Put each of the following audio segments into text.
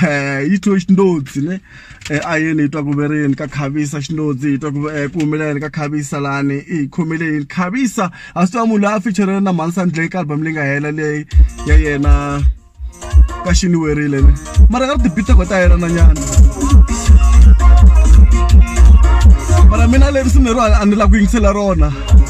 Eh, yi twiwe xindodzi ne eh, a yeni yi twa ku ve ri yini ka khavisa xindodzi yi twa ku eh, ku humela yini ka khavisa lani i yi khomile yini khavisa a swi tiva munhu loyi a ficherele na mhanisandleng ka album leyi nga hela leyi ya yena ka xiniwerile ne mara ka ri tibitego ta yena na nyana mara mina leri swi ni ro a ni la ku yingisela rona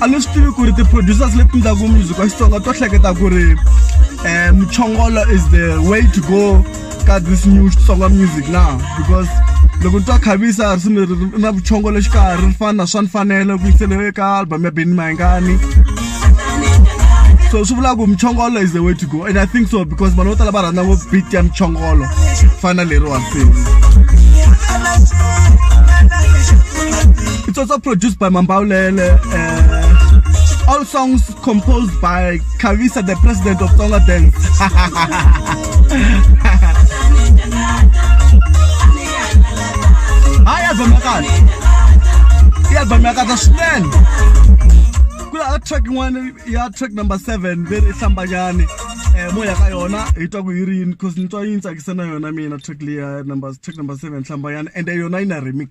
a ni swi tivi ku ri ti-producers leti ndlaku music wa xitsonga to hleketa ku ri um muchongolo is the way to go ka this new xitsonga music na because loko ni twa khavisa risimu leri ri na vuchongolo xikarhi ri fana na swa ni fanele ku yisele eka album ya beni mayingani so swi vulaka ku muchongolo is the way to go and i think so because vanhu vo tala va rhandza ngopfu beat ya muchongolo fana leriwani It's also produced by Mambaulele. Uh, all songs composed by Carissa, the president of Tonga Dance. Haya zamekana. Iya zamekana shinen. Kula track one ya track number 7 very sambanyane. Eh moya ka yona itwa ku yirini cause nitwa yintsa kisana yona mina track leya number track number 7 sambanyane and yona ina remix.